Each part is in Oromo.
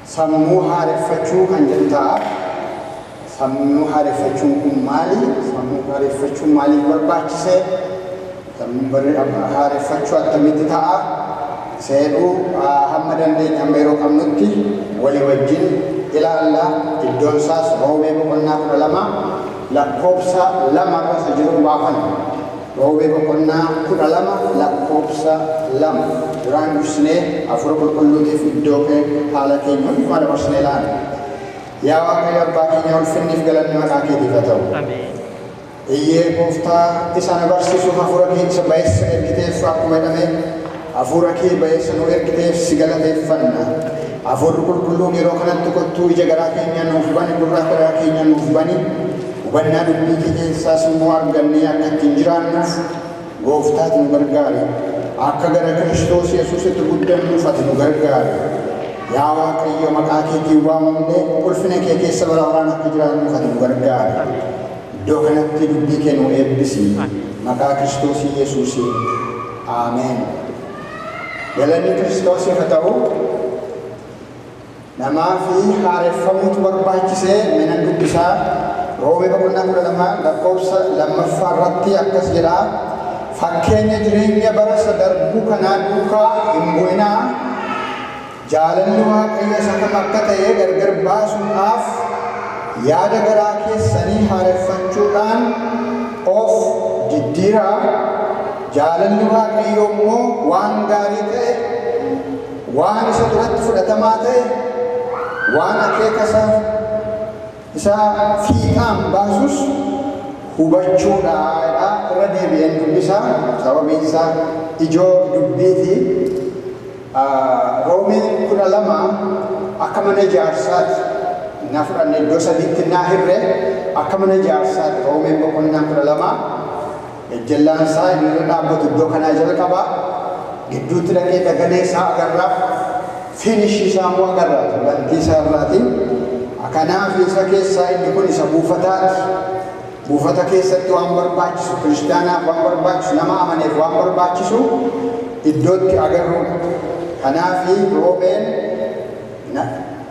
sammuu haareffachuu kan jedhu ta'a. Sammuu haareffachuun kun maali? Sammuu haareffachuun maaliif barbaachise? Sammuu barri- haareffachuu akkamitti ta'a? Seedhuu ah, hamma dandeenye hamma yeroo qabnutti walii wajjin ilaalla. Iddoon isaas roobee boqonnaa kudha lama lakkoofsa 2 irra isa jiruun baafanna. Roobee boqonnaa 12 lakkoofsa 2 duraan dursinee Hafuura Qulqulluutiif iddoo kee haala keenya hundumaa dabarsinee laanna. Yaa Waaqayyo Abbaa keenya ulfinniif galanni maqaa keetiif haa ta'u. Ameen. Eyyee gooftaa isa na barsiisuuf hafuura kee isa bayeessa ergiteef akkuma jedhame Afuura kee ba'eessa nuu ergiteef si galateeffanna. Afuurri Qulqulluun yeroo kanatti kottuu ija garaa keenyaa nuuf bani, gurra garaa keenyaa nuuf bani, hubannaa dubbii kee keessaas immoo argannee akka ittiin jiraannuuf Gooftaa ati nu gargaari. Akka gara Kiristoos Yesuusitti guddannuuf ati nu gargaari. Yaa Waaqayyo maqaa keetiin waamamnee ulfina kee keessa bara baraan akka jiraannuuf ati nu gargaari. Iddoo kanatti dubbii kee nuu eebbisi maqaa Kiristoosii Yesuusiin Ameen Galanni Kiristoosiif ha ta'u Namaafi haareffamuutu barbaachise mee nan dubbisaa Roomee boqonnaa 12 lakkoofsa 2ffaa irratti akkas jedha Fakkeenya jireenya bara isa darbu kanaa duukaa hin bu'inaa Jaalalli Waaqayyo isa kam akka ta'e gargar baasuudhaaf yaada garaa keessanii haareffachuudhaan of diddiiraa, jaalalli Waaqayyoo immoo waan gaarii ta'e, waan isa duratti fudhatamaa ta'e, waan akeeka isa isa fiixaan baasus hubachuu dha jedha. Irra deebi'een dubbisa, sababiin isaa ijoo dubbiiti. A. Roome 12, Akka mana jaarsaati na fudhanne iddoo sadiitti na hirre akka mana jaarsaati Roome boqonnaa 12 gajjallaan isaa inni irra dhaabbatu iddoo kanaa jalqaba gidduutti dhaqee dagalee isaa agarra finish isaa immoo agarra bantii isaa irraati kanaaf isa keessaa inni kun isa buufataati Buufata keessatti waan barbaachisu, Kiristiyaanaaf waan barbaachisu, nama amaneef waan barbaachisu iddootti agarruudha. Kanaafi Roomeen na,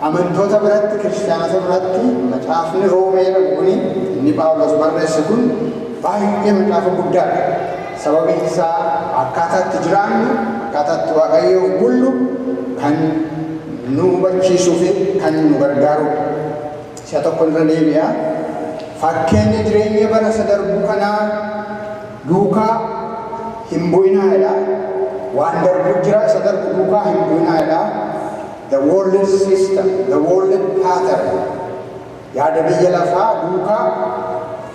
amantoota biratti, Kiristiyaanota biratti macaafni Roomee jedhamu kuni, inni Phaawulos barreesse kun baay'ee macaafa guddaadha. Sababiin isaa akkaataa itti jiraannu, akkaataa itti Waaqayyoof bullu kan nu hubachiisuufi kan nu gargaaruudha. Si'a tokkon irra deebi'a. Fakkeenya jireenya bara isa darbuu kanaa duukaa hin bu'inaa jedha. Waan darbuu jira isa darbu duukaa hin bu'inaa jedha. The world system, the world pattern. Yaada biyya lafaa duukaa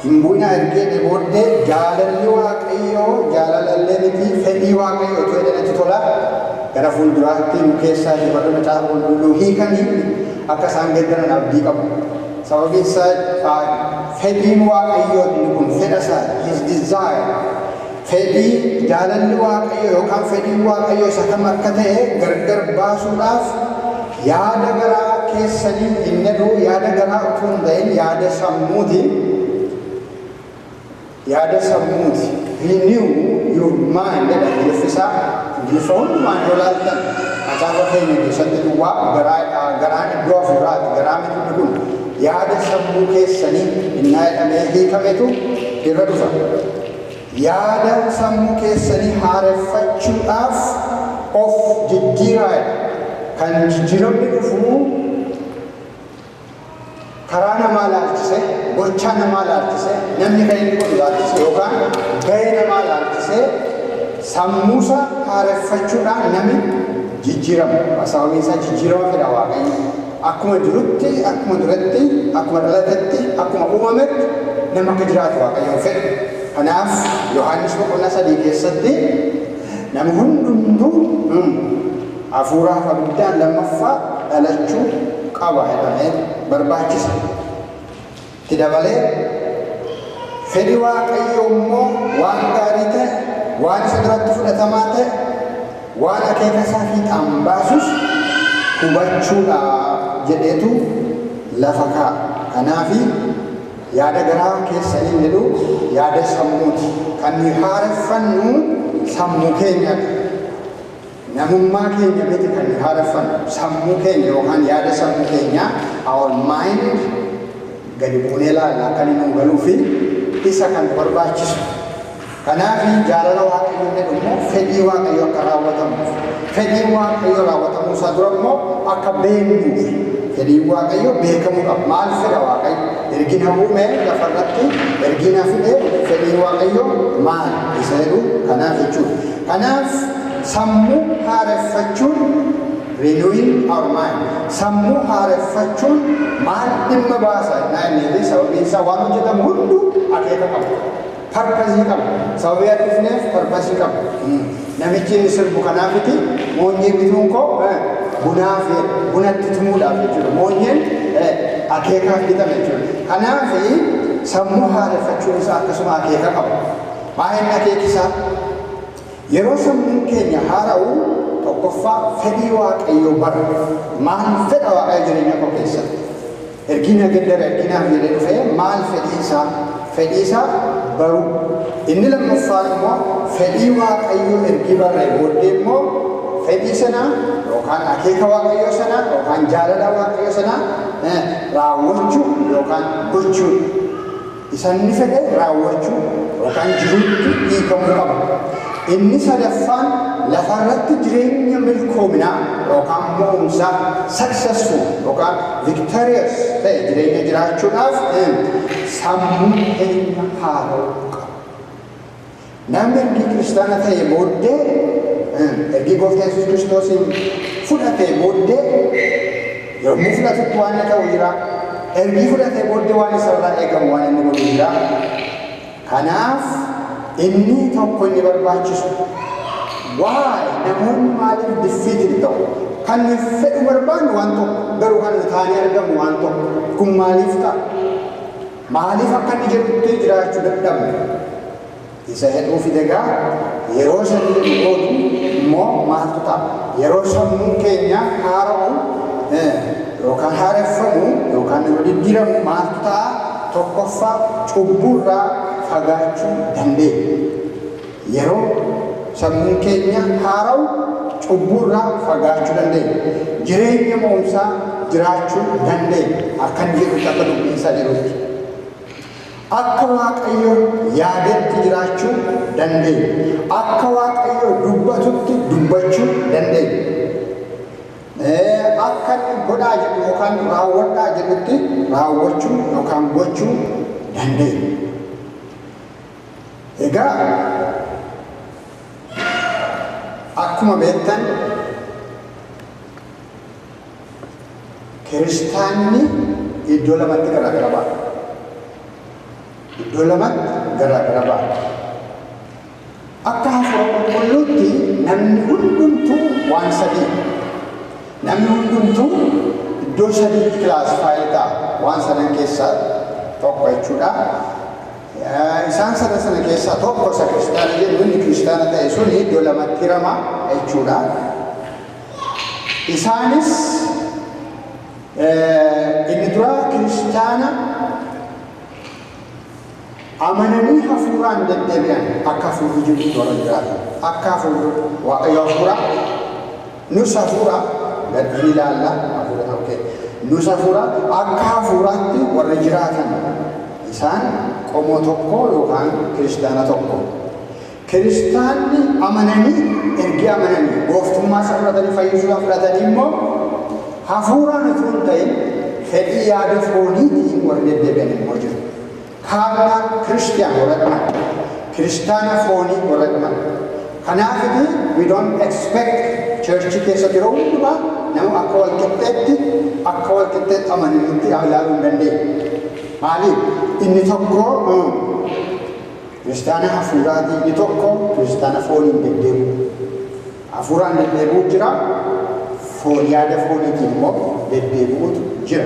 Hin bu'inaa ergi jedhee booddee jaalalli waaqayyoo jaalala illee miti fedhii waaqayyoo utuu jedhee natti tola gara fuulduraatti nu keessaa iyyuu warri macaafa qulqulluu hiikan akka isaan geddaran abdii qabu sababiin isaa fedhiin waaqayyoo inni kun fedha isaa his desire Fedhii, jaalalli Waaqayyoo yookaan fedhiin Waaqayyoo isa kam akka ta'e gargar baasuudhaaf yaada garaa keessanii hin ta'uu yaada garaa utuu hin ta'in yaada sammuuti. Yaada sammuuti. Renew your mind jedha Ingiliffisaa. Ingiliffa hundumaan yoo laaltan macaafa keenya keessatti duwwaa garaa garaan iddoo hafuuraati garaa miti kun yaada sammuu keessanii innaa jedhamee hiikametu irra dhufa. Yaada sammuu keessanii haareffachuudhaaf of jijjiiraa. Kan jijjiiramni dhufu karaa namaa ilaalchise, gochaa namaa ilaalchise, namni kan inni godhu ilaalchise yookaan gahee namaa ilaalchise sammuusa haareffachuudhaan nami jijjiirama. Sababiin isaa jijjiirama fedha Waaqayyo. Akkuma jirutti, akkuma duretti, akkuma dhalatetti, akkuma uumametti nama akka jiraatu Waaqayyoon fedha. Kanaaf Yohaannis boqonnaa sadii keessatti nama hundumtuu mm, hafuura hafa guddaan lammaffaa dhalachuu qaba jedhamee barbaachisa. Itti dabalee, Fedhi Waaqayyoo immoo waan gaarii ta'e, waan isa duratti fudhatamaa ta'e, waan akeeka isaa fiixaan baasus hubachuu dha jedheetu lafa kaa'a. Kanaafi, yaada garaa keessaniin jedhu yaada sammuuti. Kan nuyi haareffannu sammuu keenya dha. Namummaa keenya miti kan nuyi haareffannu, sammuu keenya yookaan yaada sammuu keenyaa, our mind, gadi buunee ilaalla akka inni nuu galuu fi isa kan nu barbaachisu. Kanaaf jaalala Waaqayyoo inni jedhu immoo fedhii Waaqayyoo akka raawwatamuuf, fedhiin Waaqayyoo raawwatamuu isaa dura immoo akka beeknuuf, fedhiin Waaqayyoo beekamuu qaba. Maal fedha Waaqayyo? Ergi na uume lafa irratti ergi na fide fedhiin Waaqayyoo maal isa jedhu kanaaf jechuudha. Kanaaf Sammuu haareffachuun, Renewing our mind, sammuu haareffachuun maal dhimma baasa ennaa jenneetii sababiin isaa waan hojjetamu hunduu akeeka qaba. Parpasii qaba. Sababii ati dhufneef parpasii qaba. Namichi inni sirbu kanaafiti moonyee bituun koo eh, bunaaf jedha. Buna itti tumuudhaaf jechuudha. Moonyeen eh, akeekaaf bitame jechuudha. Kanaafi sammuu haareffachuun isaa akkasuma akeeka qaba. Maa'inni akeeki isaa Yeroo sammuun keenya haara'u, tokkoffaa fedhii Waaqayyoo barra. Maal fedha Waaqayyo jireenya koo keessatti? Ergii na geddare, ergii naaf jedhee dhufee maal fedhii isaa? Fedhii isaa baruu. Inni lammaffaan immoo fedhii Waaqayyoo ergii barree booddee immoo fedhii sana yookaan akeeka Waaqayyoo sana yookaan jaalala Waaqayyoo sana eh, raawwachuu yookaan gochuudha. Isa inni fedhe raawwachuu yookaan jiruutti hiikamuu qaba. Inni sadaffaan lafa irratti jireenya milkoominaa yookaan mo'umsaa, successful yookaan victorious, ta'e jireenya jiraachuudhaaf sammuu keenya haara'uu qaba. Namni ergii kiristaana ta'ee booddee ergii gooftaa Yesuus Kiristoosiin fudhatee booddee yommuu fudhatutti waan inni ta'u jira. Ergii fudhatee booddee waan isarraa eegamu waan inni godhu jira. Kanaaf inni tokko inni barbaachisu waa'ee namoonni maaliif diffiitil ta'u kan nuyi fedhu barbaannu waan tokko garuu kan nu taanee argamu waan tokko kun maaliif ta'a? Maaliif akka inni jedhutti jiraachu dadhabne isa jedhuu fide egaa yeroo shan jedhu boodu immoo maaltu ta'a yeroo sammuun keenya haara'u yookaan haareffamu yookaan yeroo diddiiramu maaltu ta'a tokkoffaa cubburraa fagaachuu dandeenya. Yeroo sammuun keenya haara'u cubbuu irraa fagaachuu dandeenya. Jireenya mo'umsaa jiraachuu dandeenya. Akka inni jedhutti akka dubbiin isaa jedhutti. Akka Waaqayyo yaadetti jiraachuu dandeenya. Akka Waaqayyo dubbatutti dubbachuu dandeenya. Akka inni godhaa jedhu yookaan raawwadhaa jedhutti raawwachuu yookaan gochuu dandeenya. Egaa akkuma beektan kiristaanni iddoo lamatti garaagara ba'a. Iddoo lamatti garaagara ba'a. Akka hafuura qulqulluutti namni hundumtuu waan sadii namni hundumtuu iddoo sadiitti kilaasifaayi ta'a waan sadan keessaa tokko jechuudha. Isaan sadan sana keessaa tokko isa kiristaana jedhu inni kiristaana ta'e sun iddoo lamatti hirama jechuudha. Isaanis inni duraa kiristaana amananii hafuuraan deddeebi'an akka hafuurri jirutti warra jiraatan akka hafuurri waaqayyo hafuuraa Nus hafuura gad in ilaalla, hafuurota, ok. Nus hafuura, akka hafuuraatti warri jiraatan, isaan qomoo tokkoo yookaan kiristaana tokko. Kiristaanni amananii, ergi amananii, gooftummaa isaa fudhatanii, fayyisuu isaa fudhatanii immoo hafuuraan utuu hin ta'in fedhii yaada fooniitiin warri deddeebi'an immoo jiru. Kaarnaa Kiristiyaan warra qaban, Kiristaana foonii warra qaban. Kanaafiti we don't expect church keessa yeroo hundumaa nama akka wal qixxeetti akka wal qixxeetti amananitti ilaaluu hin dandeenye. Maaliif? Inni tokko kiristaana hafuuraati, inni tokko kiristaana fooniin deddeebi'u. Hafuuraan deddeebi'u jira, foon yaada fooniitiin immoo deddeebi'utu jira.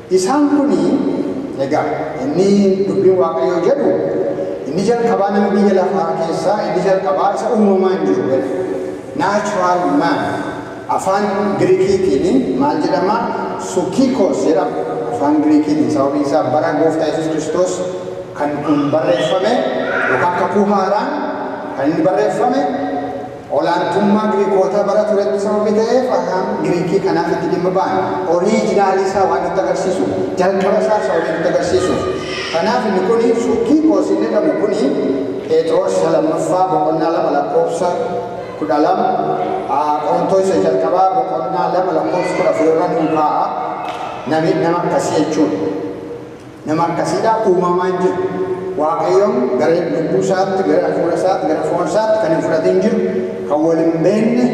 Isaan kun, egaa inni dubbiin Waaqayyoo jedhu, inni jalqabaa nama biyya lafaa keessaa inni jalqabaa isa uumamaan jiru jedha. Natural man. Afaan Giriikiitiin maal jedhama? Sukikos jedhama. Afaan Giriikiitiin sababiin isaa bara gooftaa Yesuus Kiristoos kan kun barreeffame yookaan kakuu haaraan kan inni barreeffame Olaantummaa Giriikootaa bara turetti sababii ta'eef Ahaan Giriikii kanaaf itti dhimma ba'an. Oriijinaalii isaa waan nutti agarsiisuuf, jalqaba isaa sababii nutti agarsiisuuf. Kanaaf inni kun Sukiikoos inni jedhamu kun Pheexiroos isa lammaffaa boqonnaa 2 lakkoofsa 12, Qorontoos isa jalqabaa boqonnaa 2 lakkoofsa 14 irra nuu kaa'a. Nami nama akkasii jechuudha. Nama akkasiidhaaf uumamaa hin jiru. Waaqayyoon gara lubbuu isaatti, gara hafuura isaatti, gara foon isaatti kan hin fudhatiin jiru, kan wal hin beekne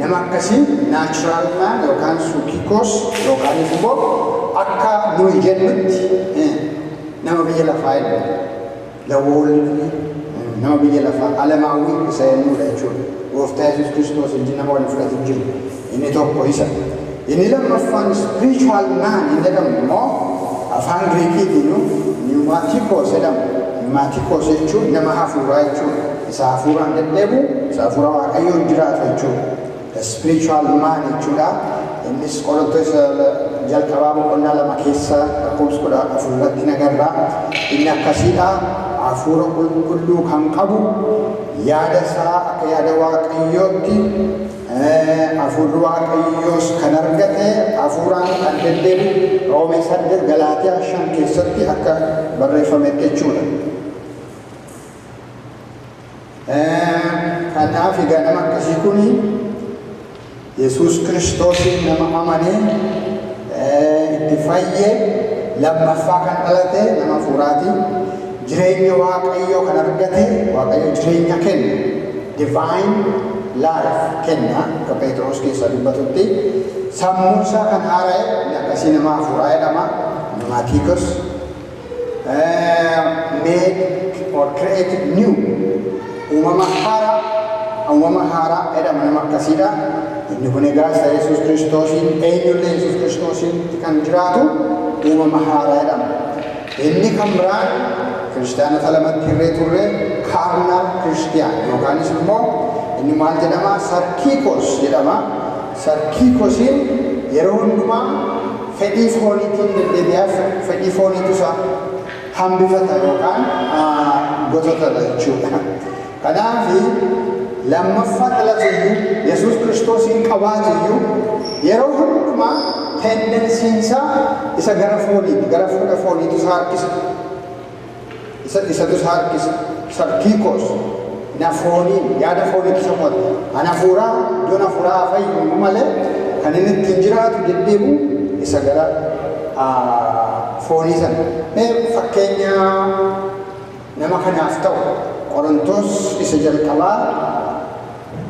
nama akkasii natural man yookaan suukikoos yookaan immoo akka nuyi jennutti eh, nama biyya lafaa hin The world mean nama biyya lafaa, alamaawwi isa eenyuu dha jechuudha. Gooftaa Yesuus Kiristoos wajjin nama wal hin fudhatin jiru. Inni tokko isa. Inni lammaffaan spiritual man hin jedhamu immoo afaan Giriikiitiinuu pneumaticos jedhama. Pneumaticos jechuun nama hafuuraa jechuudha. Isa hafuuraan deddeebi'u, isa hafuura Waaqayyoon jiraatu jechuudha. The Spiritual Man jechuudha. Innis Qorontoos jalqabaa boqonnaa lama keessa lakkoofsa kudha afur irratti nagarra. Inni akkasiidha. Hafuura qulqulluu kan qabu yaada isaa akka yaada waaqayyootti hafuurri waaqayyoos kan argate hafuuraan kan deddeebi'u roomee saddeet galaatiyaa shan keessatti akka barreeffametti jechuudha. Kanaaf egaa nama akkasii kun Yesuus Kiristoosiin nama amanee itti fayye lammaffaa kan dhalate nama hafuuraati. Jireenya Waaqayyoo kan argate Waaqayyo jireenya kenna. Divine life kenna akka Pheexiroos keessaa dubbatutti. Sammuun isaa kan haara'e inni akkasii nama hafuuraa jedhama. Maatiikos make or create new uumama haaraa uumama haaraa jedhama nama akkasiidha inni kun egaa isa yesus kiristoosiin eenyullee yesus kiristoosiin kan jiraatu uumama haaraa jedhama inni kan biraan kiristaanota lamatti hirree turre kaarnaal kiristiyaan yookaanis immoo inni maal jedhama sarkiikos jedhama Sir Kiiko Siin yeroo hundumaa fedhii fooniitiin deddeebi'aa fedhii fooniitu isa hambifata yookaan gotota dha jechuu dha. Kanaaf lammaffaa dhalatu iyyuu, Yesuus Kiristoosiin qabaatu iyyuu yeroo hundumaa tendensiin isaa isa gara fooniiti, gara fuudha fooniitu isa harkisa. Isa isa dusa harkisa, sarkiikos, na fooniin, yaada fooniitu isa mo'ata. Kan hafuuraa iddoon hafuuraa haa fayyuuyyuu malee kan inni ittiin jiraatu deddeebi'u isa gara foonii sana. Mee fakkeenya nama kanaaf ta'u Qorontos isa jalqabaa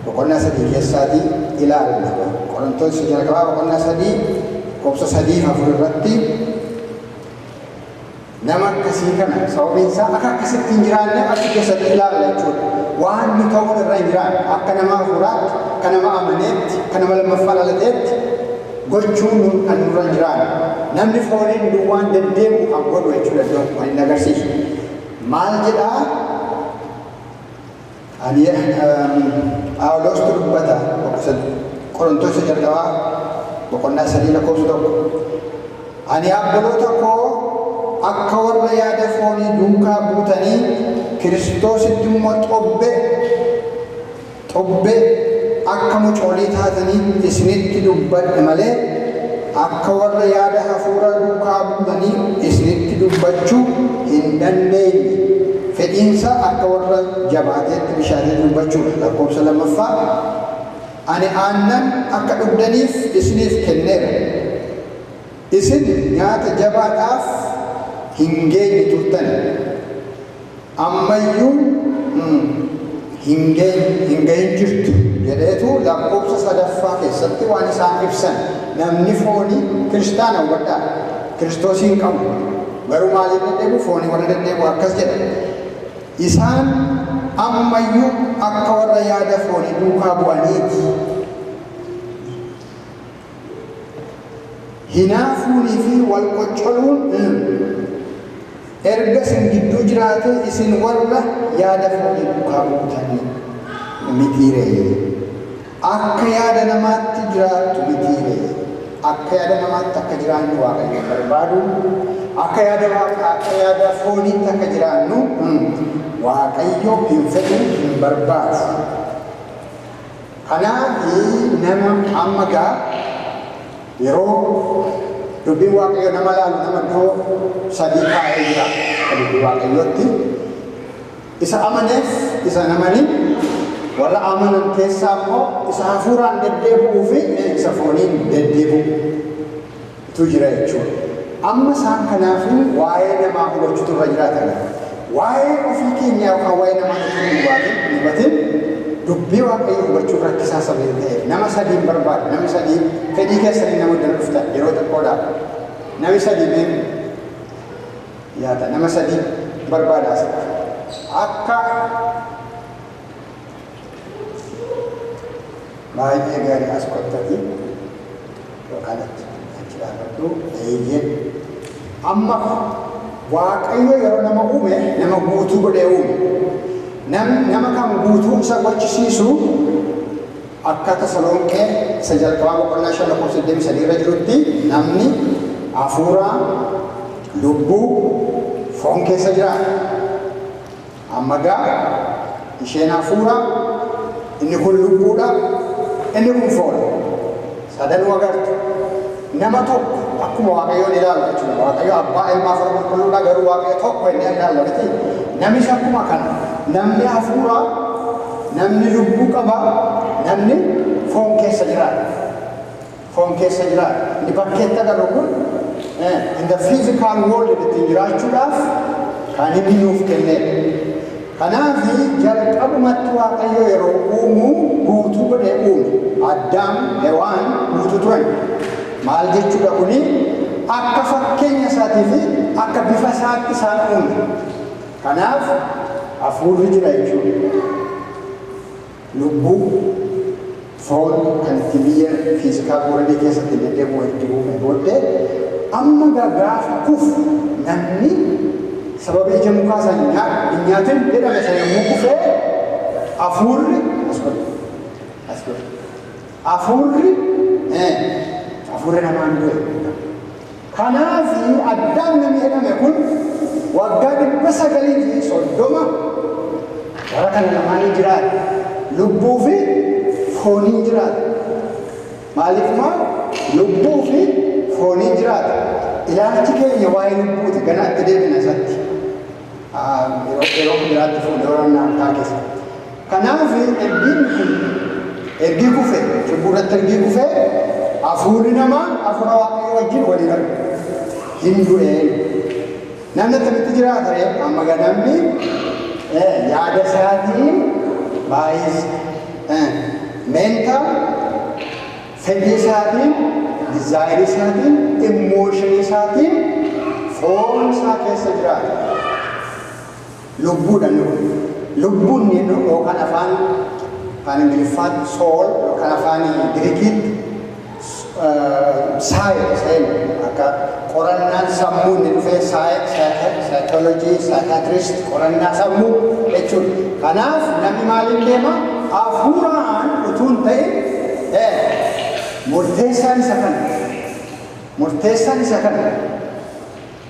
boqonnaa sadii keessaatii ilaalla. Qorontos isa jalqabaa boqonnaa sadii lakkoofsa sadii fi afur irratti Nama akkasii kana sababiin isaa akka akkasitti hin jiraanne achi keessatti ilaalla jechuudha. Waan nu ta'uun irra hin jiraanne akka nama hafuuraatti, akka nama amaneetti, akka nama lammaffaa dhalateetti gochuun nu kan nurra hin jiraanne. Namni fooniin duwwaan deddeebi'u kan godhu jechuudha iddoon kun kan inni agarsiisu. Maal jedhaa? Ani Phaawuloostu dubbata Qorontoos isa jalqabaa boqonnaa sadii lakkoofsa tokko Ani abboloota koo akka warra yaada foonii duukaa buutanii Kiristoositti immoo xobbe xobbe akka mucoolii taataniif isinitti dubbadhe malee Akka warra yaada hafuuraa duukaa buunanii isinitti dubbachuu hin dandeenye. Fedhiinsaa akka warra jabaateetti bishaanii duubbachuudha, lakkoofsa 2ffaa Ani aannan akka dhugdaniif isiniif kenneera. Isin nyaata jabaadhaaf hin geenye turtan. Ammayyuu hin gahin jirtu jedheetu lakkoofsa sadaffaa keessatti waan isaan ibsan namni foonii kiristaana hubadhaa kiristoosii hin qabu garuu maaliif deddeebi'u foonii warra deddeebi'u akkas jedha isaan ammayyuu akka warra yaada foonii duukaa bu'aniiti Hinaafuunii fi wal qoccoluun mm, erga isin gidduu jiraatee isin warra yaada foonii duukaa buutanii mitii ree? Akka yaada namaatti jiraattu mitii ree? Akka yaada namaatti akka jiraannu Waaqayyo hin barbaadu. Akka yaada Waaqaa, akka yaada fooniitti akka jiraannu mm, Waaqayyo hin fedhu, hin barbaadu. Kanaafi nama amma gaa yeroo dubbiin Waaqayyoo nama laalu nama iddoo sadii kaa'ee jira akka dubbii Waaqayyootti. Isa amaneef isa hin amanin, warra amanan keessaa immoo isa hafuuraan deddeebi'uu fi isa fooniin deddeebi'u. tu jira jechuudha. Amma isaan kanaafuu waa'ee namaa hubachuutu irra jiraata laata? Waa'ee ofii keenyaa yookaan waa'ee namaa utuu hin hubaatin, hin hubatin dubbii Waaqayyoo hubachuun rakkisaa sababii ta'eef nama sadii hin barbaadu. Namni sadii fedhii keessaniin nama iddoo dhuftan yeroo xiqqoodhaaf. Namni sadii mee yaada nama sadii barbaada asitti. Akka Baay'ee gaarii as kottati yookaan achi achi dhaabadhu eeyyeen amma waaqayyo yeroo nama uume nama guutuu godhee uume nam nama kan guutuu isa gochisiisu akka tasalonqee isa jalqabaa boqonnaa shan lakkoofsa 23 irra jirutti namni hafuuraa lubbuu foon keessa jiraata. Amma gaa, isheen hafuura, inni kun lubbuu dha, inni kun foon. Sadanuu agartu. Nama tokko akkuma Waaqayyoon ilaalu jechuudha. Waaqayyo Abbaa, Ilmaa fi Hafuura Qulqulluu dha, garuu Waaqayyo tokko jennee ilaalla miti. Namis akkuma kana. Namni hafuura, namni lubbuu qaba, namni foon keessa jiraata. foon keessa jiraata. Inni bakkeetti agarru kun in the physical world ittiin jiraachuudhaaf kan inni nuuf kenneedha. Kanaaf jalqabumatti Waaqayyo yeroo uumu guutuu godhee uume. Addaam, Hewaan guutuu turan. Maal jechuudha kuni? Akka fakkeenya isaatii fi akka bifa isaatti isaan uume. Kanaaf hafuurri jira jechuudha. Lubbuu, foon, kan itti biyya, physical world, keessa ittiin deddeebi'u ergi uumee booddee, amma egaa gaafa kufu namni sababii ija mukaa sana hin nyaadhu, hin nyaatin jedhame sana yommuu kufe hafuurri as godhi, as godhi, hafuurri, ee, hafuurri namaan du'e. Kanaaf Addaam namni jedhame kun waggaa 930 bara kana lamaaniin jiraate. Lubbuu fi fooniin jiraate. Maaliif maa lubbuu fi fooniin jiraate? Ilaalchi keenya waa'ee lubbuuti. Ganaa itti deebina isatti. yeroo yeroo biraatti fuudhee waraanaa harkaa keessa. Kanaaf ergiin kun ergii kufe cubbuu irratti ergii kufe hafuurri namaa hafuura waaqayyoo wajjin waliin argu hin du'ee. Namni akkamitti jiraata ree? Amma gaa namni eh, yaada isaatiin baay'is eh, mental Fedhii isaatiin, desire isaatiin, emotion isaatiin foon isaa keessa jiraata. Lubbuudha inni kun. Lubbuu inni jedhu yookaan afaan afaan Ingiliffaatti soul yookaan afaan Girikiitti saayil seen akka Qorannaan sammuu inni dhufee psych, psych- psychology, psychiatrist qorannaa sammuu jechuudha. Kanaaf namni maaliin deema? Hafuuraan utuu hin ta'in eh, murteessaan isa kana. Murteessaan isa kana.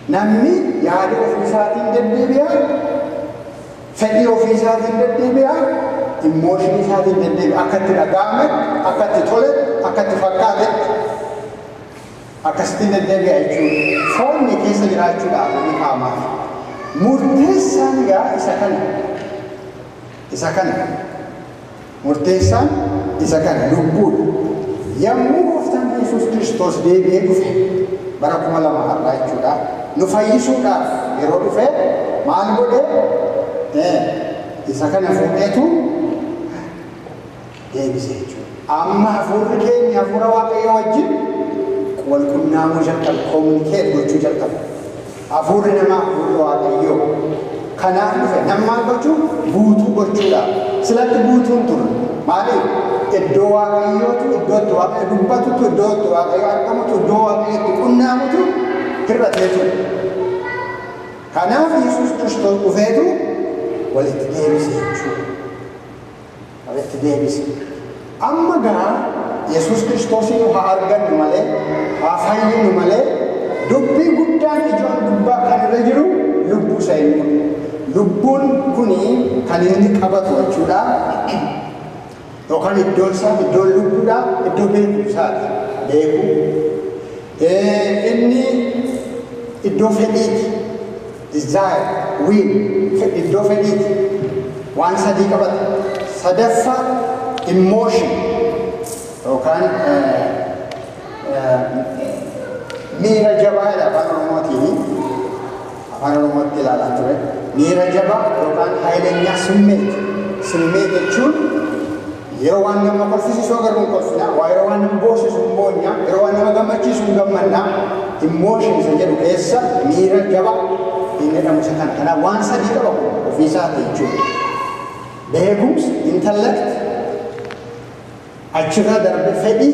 Namni yaada ofiisaatiin deddeebi'a, fedhii ofiisaatiin deddeebi'a, immooshinii isaatiin deddeebi'a. Akka itti dhaga'ametti, akka itti toletti, akka itti fakkaatetti. Akkasittiin deddeebi'a jechuun foonni keessa jiraachuudhaan inni kaa'amaafi. Murteessaan egaa isa kana. Isa kana. Murteessaan isa kana, lubbuudha. Yommuu Gooftaan keenya Yesuus Kiristoos deebi'ee dhufe, bara 2000 har'aa jechuudha, nu fayyisuudhaaf yeroo dhufe maal godhe? Ee, isa kana fuudheetu. deebise jechuudha. Amma hafuurri keenya hafuura Waaqayyoo wajjin wal qunnaamuu jalqabe, communicate gochuu jalqabe. Hafuurri namaa hafuurri Waaqayyoo kanaaf dhufe nama maal gochuu guutuu gochuudha. Silatti guutuun ture maaliif? Iddoo Waaqayyootu iddoo itti Waaqayyo dubbatutu iddoo itti Waaqayyo argamutu iddoo Waaqayyo itti qunnaamutu hir'atee ture. Kanaaf Yesuus Kiristoos dhufeetu walitti deebise jechuudha. Itti deebise. Amma garaa Yesuus Kiristoosiinu haa argannu malee, haa fayyinu malee, dubbii guddaan ijoon gubbaa kan irra jiru lubbuu isa eeguu dha. Lubbuun kuni kan inni qabatu jechuu dha yookaan iddoon isaa, iddoon lubbuu dhaa iddoo beekumsaa ti, beekuu. Inni iddoo fedhii ti. desire, will, fe, iddoo fedhiiti. Waan sadii qabata. Sadaffaa emotion yookaan miira jabaa jedha afaan oromootiini. Afaan oromootti ilaalaan ture. Miira jabaa yookaan haayilenyaa summeeti. Summeet jechuun Yeroo waan nama kolfisiisu agarru hin kolfina, waa yeroo waan nama boosisu hin boonya, yeroo waan nama gammachiisu hin gammanna. Emotion isa jedhu keessa miira jaba hin jedhamu isa kana. Kanaaf waan sadii qaba kun ofii isaati jechuudha. Beekumsi, intellect, achirra darbe fedhii,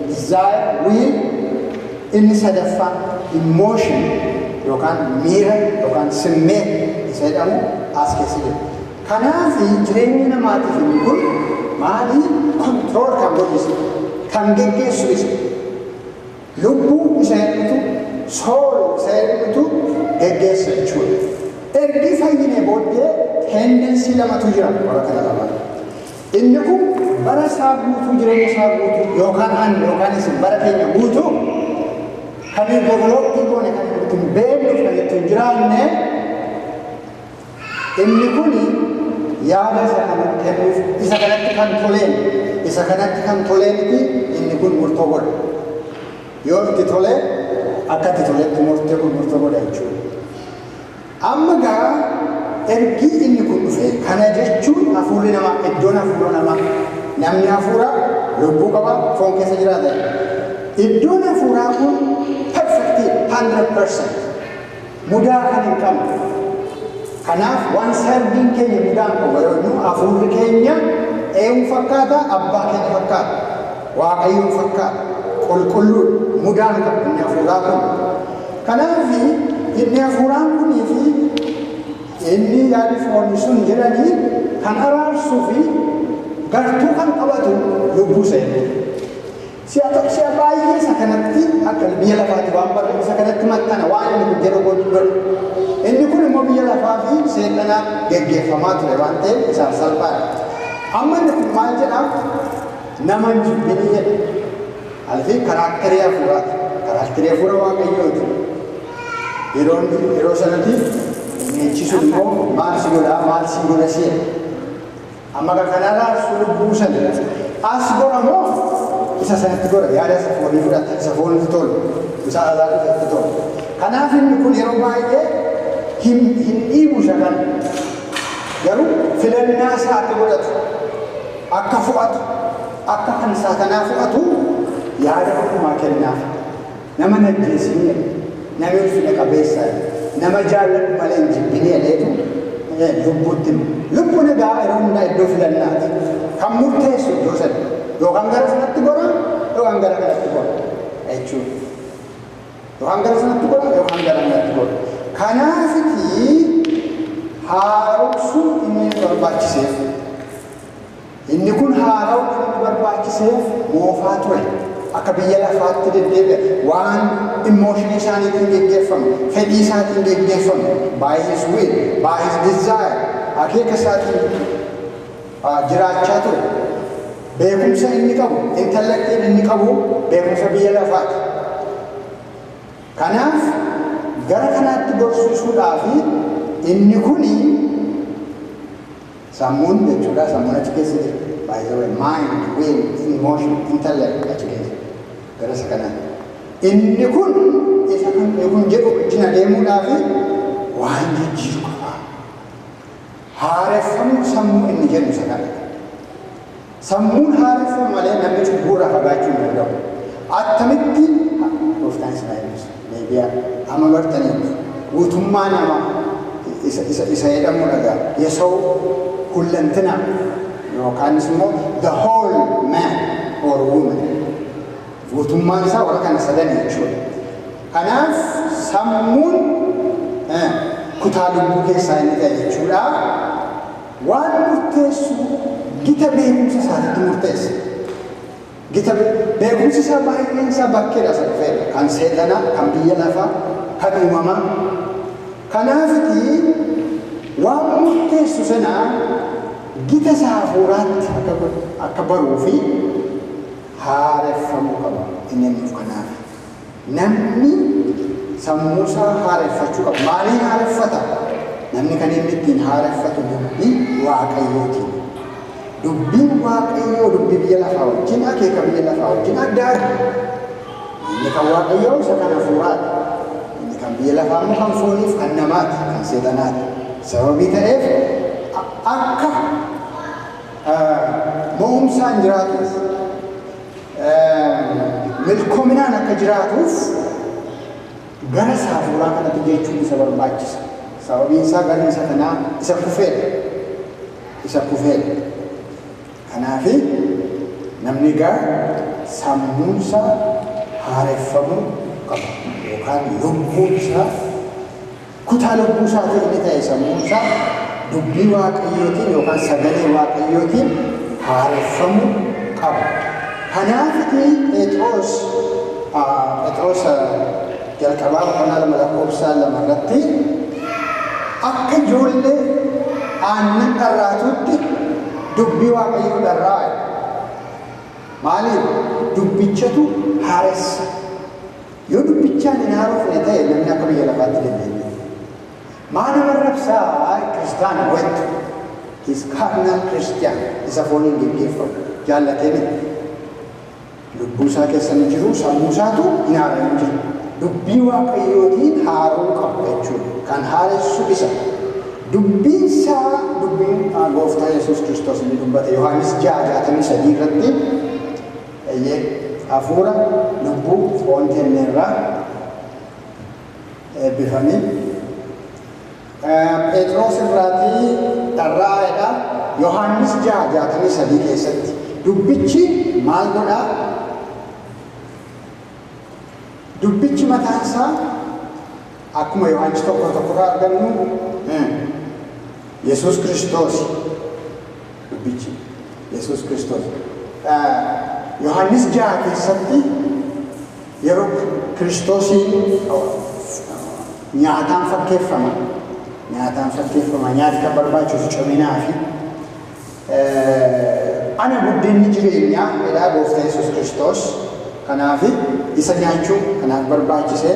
desire, will, inni sadaffaa emotion yookaan miira yookaan simmeet isa jedhamu as keessa jira. Kanaaf jireenya namaatiif inni kun maali? Control kan godhu isa. Kan geggeessu isa. Lubbuu isa eenyutu? Soul isa eenyutu geggeessa jechuudha. Ergi fayyine booddee tendency lamatu jira bara kana lamaan. Inni kun bara isaa guutuu jireenya isaa guutuu yookaan ani yookaan isin bara keenya guutuu kan hin developii goone kan nuti hin beekne kan ittiin jiraanne Inni kun yaada isa kana kennuuf isa kanatti kan toleen isa kanatti kan tolee miti inni kun murtoo godha. Yoo itti tole akka itti toletti murtee kun murtoo godha jechuudha. Amma gaa ergii inni kun dhufe kana jechuun hafuurri namaa iddoon hafuura namaa namni hafuura lubbuu qaba foon keessa jiraata. Iddoon hafuuraa kun perfektii 100%. Mudaa kan hin qabne. Kanaaf waan selfiin keenya mudaan qaba yoo jennu hafuurri keenya eewu fakkaata abbaa keenya fakkaata. Waaqayyoon fakkaata. Qulqulluudha. Mudaa hin qabu inni hafuuraa kun. Kanaaf inni hafuuraan kunii fi inni yaadi foonii sun jedhanii kan araarsuu fi gartuu kan qabatu lubbuu seenu. Si'a tokko si'a baay'ee isa kanatti akka inni biyya lafaatti waan barreef isa kanatti maxxana waan inni kun jedhu gochuu godhu. Inni kun immoo biyya lafaa fi seexanaan geggeeffamaa ture waan ta'eef isaaf salphaadha. Amma inni kun maal jedhaa? Nama hin jibbini jedha. Alfi karaakterii hafuuraati. Karaakterii hafuura waaqayyooti. Yeroo yeroo sanatti inni jechisuun immoo maal si godhaa maal si godha si jedha. Amma ka kana raabsu lubbuu sanitti. As gora moo isa sanitti gora? Yaada isa foonii fudhata, isa foonitti tolu, isa alaa dhufetti tolu. Kanaaf inni kun yeroo baay'ee hin hin dhiibu isa kana. Garuu filannaa isaa akka godhatu, akka fo'atu, akka kan isaa kanaa fo'atu yaada hundumaa kennaaf. Nama hin ajjeesin jedhe. Nami ulfina qabeessa nama jaalladhu malee hin jibbin jedheetu lubbuutti hima. Lubbu nagaa yeroo hundaa iddoo filannaati. Kan murteessu iddoo sana. Yookaan gara sanatti gora, yookaan gara kanatti gora. Jechuudha. Yookaan gara sanatti gora, yookaan gara kanatti gora. Kanaafitii haaromsuun inni barbaachiseef. Inni kun haarawa kan inni barbaachiseef moofaa ture. Akka biyya lafaatti deddeebi'a. Waan emotion isaaniitiin geggeeffamu, fedhii isaatiin geggeeffamu, by his will, by his desire, akeeka isaatiin ah, jiraachaa ture. Beekumsa inni qabu, intellectiin inni qabu beekumsa biyya lafaati. Kanaaf gara kanaatti gorsiisuudhaaf inni kuni Sammuun jechuudha sammuun achi keessa jira by the way mind, will, emotion, intellect achi keessa gara isa kanaa inni kun isa kan inni kun jedhu wajjin adeemuudhaafi waan jijjiiru qaba haareffamuu sammuu inni jedhu isa kana Sammuun haareffamu malee namni cubbuu irraa fagaachuu hin danda'u. Attamitti? Ha, Gooftaan isin haa eebbisu. Deebi'aa. Amma bartaniittu. Guutummaa nama, isa, isa, isa jedhamuu dhagaa. Yesawuu, hullantina, yookaanis immoo the whole man or woman. Guutummaan isaa warra kana sadan jechuudha. Kanaaf sammuun eh, kutaa lubbuu keessaa inni ta'e jechuudha. Waan murteessu gita beekumsa isaatitti murteessa. Gita beekumsi isaa baay'een isaa bakkeedhaa isa dhufeedha. Kan seexanaa, kan biyya lafaa, kan uumamaa. Kanaafiti waan murteessu sana gita isaa hafuuraatti akka godhu, akka baruu fi haareffamuu qaba. Inni nuuf kanaafi. Namni sammuu isaa haareffachuu qabu. Maaliin haareffata? Namni kan inni ittiin haareffatu dubbii Waaqayyootiin. Dubbiin Waaqayyoo dubbii biyya lafaa wajjin, akeeka biyya lafaa wajjin adda adda. Inni kan Waaqayyoo isa kan hafuuraati. Inni kan biyya lafaa immoo kan fooniif kan namaati, kan seexanaati. Sababii ta'eef akka mo'umsaan jiraatuuf milkominaan akka jiraatuuf gara saafuuraa kanatti jechuun isa barbaachisa. Sababiin isaa garri isa kanaa isa kufeedha. Isa kufeedha. Kanaaf namni egaa sammuun isaa haareffamuu qaba yookaan lubbuun isaa Kutaa lubbuu isaatii inni ta'e sammuun isaa dubbii Waaqayyootiin yookaan sagalee Waaqayyootiin haareffamuu qaba. Kanaafiti Pheexiroos Pheexiroosa jalqabaa boqonnaa 2 lakkoofsa 2 irratti akka ijoollee aannan dharraatuutti dubbii Waaqayyoo dharraa'a. Maaliif? Dubbichatu haaressa. Yoo dubbichaan hin haarofne ta'e namni akka biyya lafaatti deddeebi'uuf. Maa nama arrabsaa waa'ee kiristaana waytu his carnal Christian isa fooniin geggeeffamu jaallatee miti. Lubbuu isaa keessa ni jiru sammuu isaatu hin haara'in jiru. Dubbii waaqayyootiin haara'uu qabu jechuudha. Kan haaressu isa. Dubbiin isaa dubbiin gooftaa Yesuus Kiristoos inni dubbate Yohaannis 6:63 irratti Eeyyee, hafuura, lubbuu, foon kenneerra. Eebbifami. Pheexiroos irraati dharra'aa jedha. Yohaannis 6, 63 keessatti dubbichi maal godha? Dubbichi mataan isaa akkuma Yohaannis tokko tokko irraa argannu Yesuus Kiristoos Dubbichi, Yesuus Kiristoos dha. Yohaannis 6 keessatti yeroo. Kiristoosiin nyaataan fakkeeffama. Nyaataan fakkeeffama. Nyaati kan barbaachisu ciminaa fi ana buddeenni jireenyaa jedhaa gooftaa Yesuus Kiristoos. Kanaaf isa nyaachuu kanaaf barbaachisee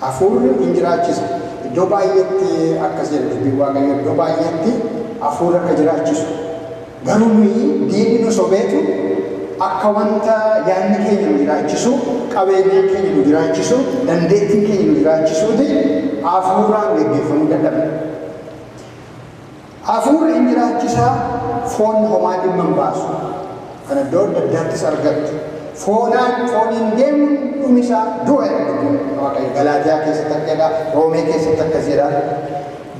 Hafuurri in jiraachisa. Iddoo baay'eetti akkas jedha dubbiin Waaqayyoo iddoo baay'eetti hafuurri akka jiraachisu. Garuu nuyi diinni nu sobeetu akka wanta yaadni keenya nu jiraachisu, qabeenyaan keenya nu jiraachisu, dandeettiin keenya nu jiraachisuuti hafuuraan geggeeffamuu dadhabna. Hafuurri in jiraachisa, foon homaa dhimma hin baasu. Kan iddoo adda addaattis argattu. Foonaan, fooniin deemuun dhumi isaa du'a jedha dubbiin Waaqayyo. Galaatiyaa keessatti akka jedha, Roomee keessatti akkas jedha.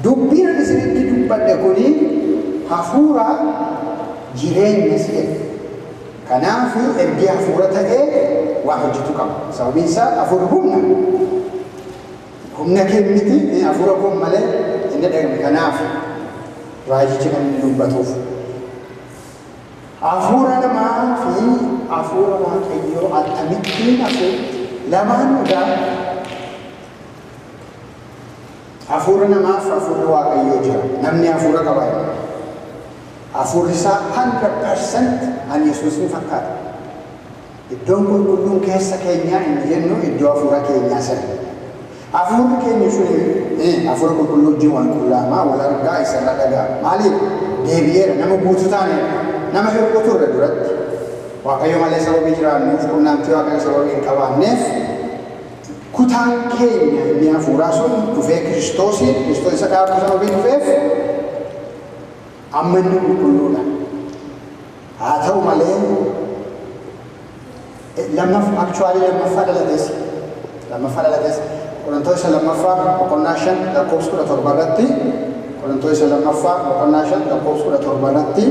Dubbiin ani isinitti dubbadhe kuni hafuura, jireenyas jedha. Kanaaf ergi hafuura ta'ee waa hojjetu qaba. Sababiin isaa hafuurri humna. Humna kee miti, ee hafuura koon malee hin dhaga'amu. Kanaaf raajichi kan inni dubbatuuf hafuura namaa fi hafuura Waaqayyoo akkamittiin hafuutti lamaan dhugaa hafuura namaa fi hafuurri Waaqayyoo jira. Namni hafuura qaba jedha. Hafuurri isaa 100% an Yesuus ni fakkaata. Iddoon qulqulluun keessa keenyaa inni jennu iddoo hafuura keenyaa sana. Hafuurri keenya suni hafuura qulqulluu wajjin wal qullaama, wal argaa, isa irraa dhaga'a. Maaliif? Deebi'eera, nama guutuu taaneerra. Nama hir'uu turre duratti. Waaqayyo malee sababii jiraannuuf, qunnaamtii Waaqayyo sababii hin qabaanneef, kutaan keenya inni hafuuraa sun dhufee Kiristoosiin, Kiristoos isa dhaabuu sababii dhufeef, Amma inni qulqulluu dha. Haa ta'u malee, lammaf, actually lammaffaa dhalates, lammaffaa dhalates, Qorontoos isa lammaffaa boqonnaa shan lakkoofsa kudha torba irratti, Qorontoos isa lammaffaa boqonnaa shan lakkoofsa kudha torba irratti,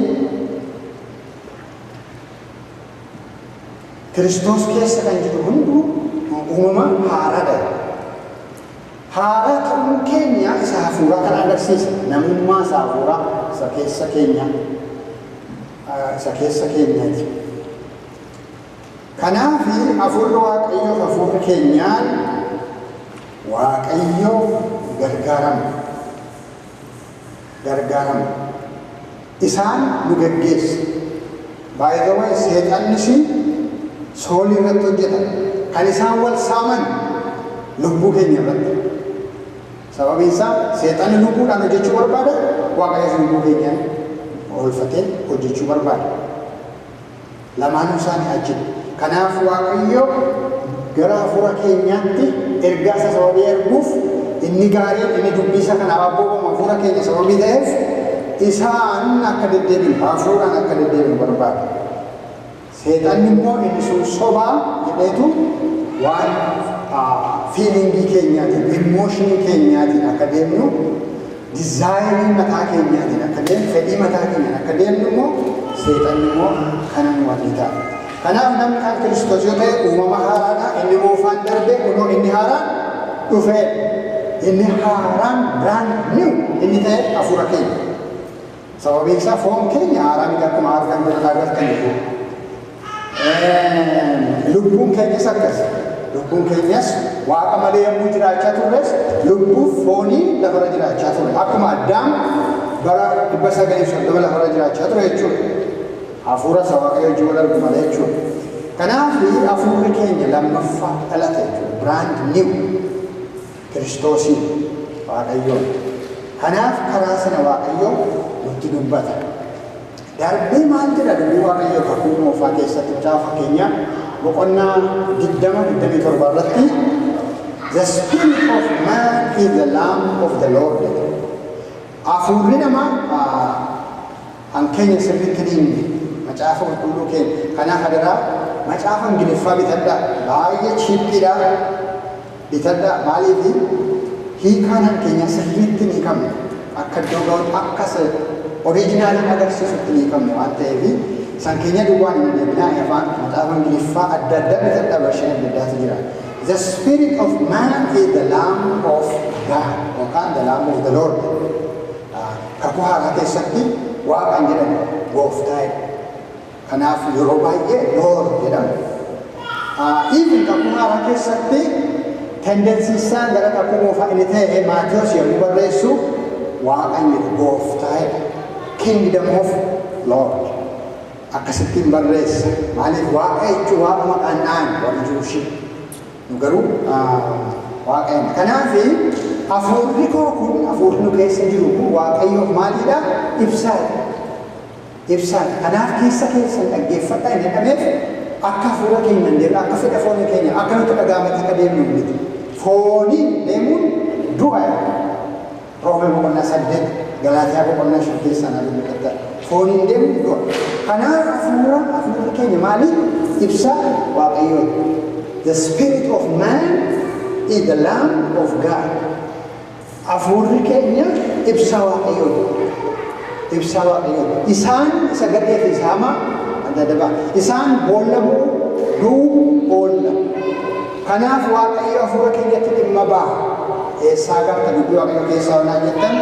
Kiristoos keessa kan jiru hunduu uumama haaraa dha. Haaraa ta'uun keenya isa hafuuraa kana agarsiisa, namummaa isa hafuuraa isa keessa keenya isa keessa keenyati. Kanaaf hafuurri Waaqayyoo hafuurri keenyaan Waaqayyoo gargaaramna. gargaaramu. Isaan nu geggeessu. By the way seexannis soolii irratti hojjeta. Kan isaan wal saaman lubbuu keenya irratti. Sababiin isaa seexanni lubbuudhaan hojjechuu barbaada, Waaqayyos lubbuu keenyaan oolfatee hojjechuu barbaada. Lamaanuu isaa ni ajjeesu. Kanaaf Waaqayyo gara hafuura keenyaatti ergaa isaa sababii erguuf inni gaariin inni dubbii isaa kan abboomamu hafuura keenya sababii ta'eef isaan akka deddeebinu hafuuraan akka deddeebinu barbaada. Seexanni immoo inni sun sobaa jedheetu waan fiilingii keenyaatiin, immooshinii keenyaatiin akka deemnu Dizaayinii mataa keenyaatiin akka deemnu, fedhii mataa keenyaan akka deemnu immoo seexanni immoo kana nu hojjeta. Kanaaf namni kan Kiristoos yoo ta'e uumama haaraadha. Inni moofaan darbe kunoo inni haaraan dhufeera. Inni haaraan brand new inni ta'e hafuura keenya. Sababiinsaa foon keenya haaraa miti akkuma argan jedhan agartaniitu. Lubbuun keenyas akkasi. Lubbuun keenyas waaqa malee yommuu jiraachaa turres lubbuuf foonii lafarra jiraachaa ture. Akkuma addaam bara dhibba sagalii fi soddoma lafarra jiraachaa ture jechuudha. Hafuura isa waaqayyo wajjin wal argu malee jechuudha. Kanaaf hafuurri keenya lammaffaa dhalate jechuudha. Brand new. Kiristoosiin, Waaqayyoon. Kanaaf karaa sana Waaqayyo nutti dubbata. Darbee maal jedha dubbii Waaqayyoo kakuu moofaa keessatti mucaa fakkeenyaa boqonnaa 20 27 irratti The spirit of man is the lamp of the Lord. Afuurri namaa Kan keenya sirriitti dhiibne macaafa qulqulluu keenya. Kanaaf adaraa macaafa ingiliffaa bitadhaa. Baay'ee chiippiidha. Bitadhaa. Maaliif hiikaa kan keenyaa sirriitti hin hiikamne. Akka iddoo ga'utti akka isa oriijinaalii agarsiisutti hin hiikamne waan ta'eef san keenya duwwaan hin deeminaa hin afaan macaafa ingiliffaa adda addaa bitadhaa vershin adda addaatu jira. The spirit of man is the lamb of God yookaan the lamb of the Lord. Kakuu Haaraa keessatti Waaqa hin jedhamu, Gooftaa jedhama. Kanaaf yeroo baay'ee Lord jedhama. Even Kakuu Haaraa keessatti tendensiin isaa gara Kakuu Moofaa inni ta'e Maatiyos yommuu barreessu Waaqa hin jedhu, Gooftaa jedha. Kingdom of Lord. Akkasittiin barreessa. Maaliif Waaqa jechuun Waaqa maqaan naan warri Jiwushii. Nu garuu Waaqayyo dha. Kanaaf hafuurri koo kun, hafuurri nu keessa jiru kun Waaqayyoof maalii dha? Ibsaa dha. Ibsaa dha. Kanaaf keessa keessan dhaggeeffadhaa hin jedhameef akka hafuura keenyaan deemnu, akka fedha foonii keenyaan, akka nutti dhaga'ametti akka deemnu miti. Fooniin deemuun du'a dha. Roome boqonnaa 8, Galaatiyaa boqonnaa 5 keessaa na dubbifadha. Fooniin deemuu yoo kanaaf hafuura hafuurri keenya maali? Ibsa Waaqayyooti. The spirit of man is the lamb of God. Hafuurri keenya ibsa Waaqayyooti. Ibsa Waaqayyooti. Isaan isa gadhee fi isa hamaa adda adda ba'a. Isaan boolla bu'u, du'u, boolla. Kanaaf Waaqayyo hafuura keenyatti dhimma ba'a. Eessaa garta dubbii Waaqayyoo keessaa yoo naan jettan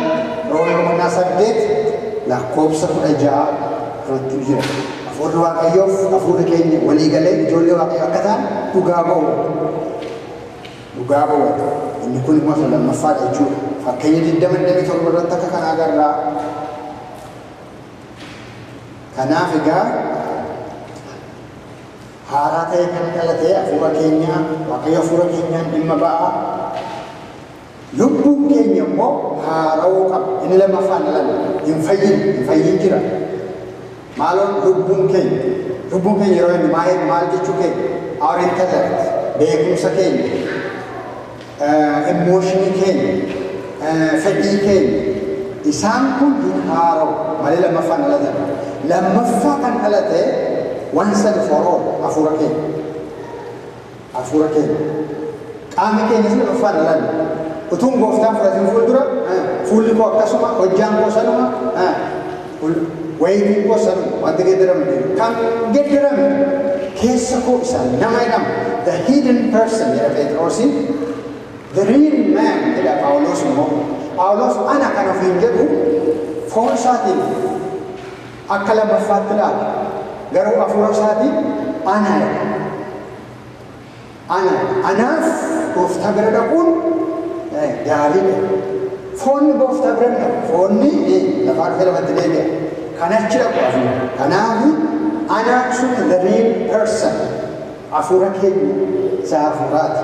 Roomee boqonnaa 8 lakkoofsa 16 irrattu jira. Hafuurri Waaqayyoof hafuurri keenya walii galee ijoollee Waaqayyoo akka ta'an dhugaa ba'u. Dhugaa ba'u. Inni kun immoo isa lammaffaadha jechuudha. Fakkeenya 20:27 irratti akka kanaa agarra. Kanaaf egaa haaraa ta'e kan dhalate hafuura keenyaa waaqayyo hafuura keenyaan dhimma ba'aa lubbuun keenya immoo haara'uu qaba inni lammaffaan dhalame hin fayyin hin fayyin jira maaloon lubbuun keenya lubbuun keenya yeroo inni maal maal jechuu keenya our intellect beekumsa keenya Emotion keenya, fedhii keenya, isaan kun hin haarawu, malee lammaffaa hin dhalatan. Lammaffaa kan dhalate once and for all hafuura keenya. Hafuura keenya. Qaamni keenyas lammaffaa hin dhalanne. Utuun gooftaan fudhatiin fuuldura, fuulli koo akkasuma, hojjaan koo sanuma, Kun wayitii koo san wanti geddarame jiru kan geddarame keessa koo isa nama jedhama the hidden person jedha Pheexiroos the real man jedha Phaawuloos immoo Phaawuloos ana kan ofiin jedhu foon isaatiin akka lammaffaatti ilaala garuu afuura isaatiin ana jedha. Ana, anaaf Gooftaa bira dhaquun gaarii dha. Foonni Gooftaa bira hin dhaqu. Foonni lafaa dhufee lafatti deebi'a. Kan achi dhaqu hafuura. Kanaaf anaa sun the real person. Hafuura keenya isa hafuuraati.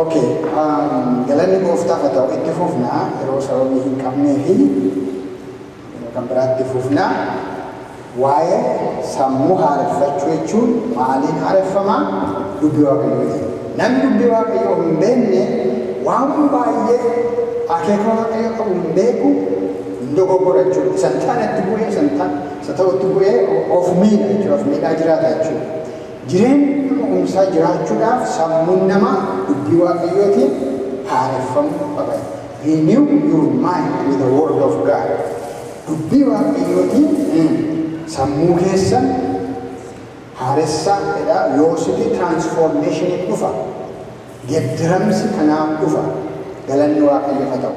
Ok galanni gooftaaf haa ta'u itti fufna yeroo sababii hin qabnee fi yeroo kan biraa itti fufna waa'ee sammuu haareffachuu jechuun maaliin haareffama dubbii waaqayyoo ta'e namni dubbii waaqayyoo hin beekne waan baay'ee akeeka waaqayyoo qabu hin beeku hin dogoggora jechuudha isa hin taanetti bu'ee isa hin taane isa ta'utti bu'ee of miidha jechuudha of miidhaa jiraata jechuudha. Jireenyi kaka'umsaa jiraachuudhaaf sammuun namaa dubbii Waaqayyootiin haareffamuu qaba. Renew your mind with the word of God. Dubbii Waaqayyootiin sammuu keessan haaressaa jedhaa yoositii transformation dhufa. Geddaramsi kanaaf dhufa. Galanni Waaqayyoof haa ta'u.